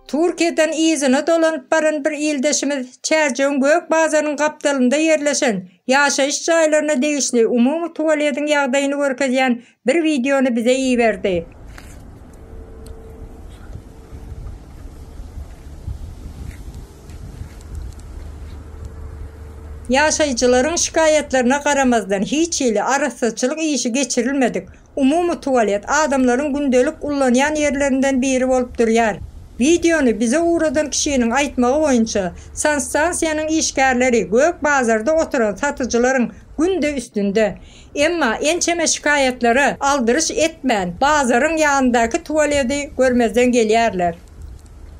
Türkiýeden yzyna dolanyp baran bir ildeşimiz Çärjewiň Gök bazarynyň gapdalynda ýerleşen ýaşaýyş jaýlaryna degişli umumy tualediň ýagdaýyny görkezýän bir wideony bize iberdi. Ýaşaýjylaryň şikaýatlaryna garamazdan, hiç hili arassaçylyk işi geçirilmedik umumy tualet adamlaryň gündelik ullanýan ýerlerinden biri bolup durýar. Wideony bize ugradan kişiniň aýtmagy boýunça, sanstansiýanyň işgärleri gök bazarda oturan satyjylaryň günde üstünde. Emma ençeme şikaýatlara aldyryş etmän, bazaryň ýanyndaky tualedi görmezden gelýärler.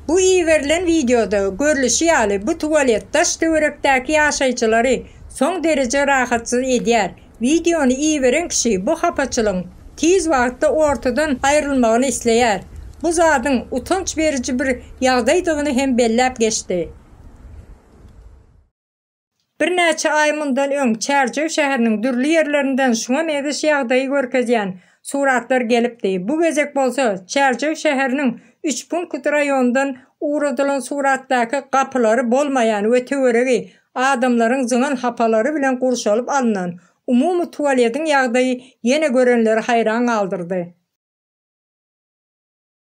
Bu iberilen wideoda görlüşi ýaly, bu tualet daş-töwerekdäki ýaşaýjylary soň dereje rahatsyz edýär. Wideony iberen kişi bu hapaçylygyň tiz wagtda ortadan aýrylmagyny isleýär. Bu zadyň utanç beriji bir ýagdaýdygyny hem belläp geçdi. Birnäçe aý mundan öň Çärjew şäheriniň dürli ýerlerinden şuňa meňzeş ýagdaýy görkezýän suratlar gelipdi. Bu gezek bolsa Çärjew şäheriniň Üçpunkt raýonyndan ugradylan suratdaky gapylary bolmaýan we töweregi adamlaryň zyňan hapalary bilen gurşalyp alnan umumy tualediň ýagdaýy ýene görenleri haýran galdyrdy.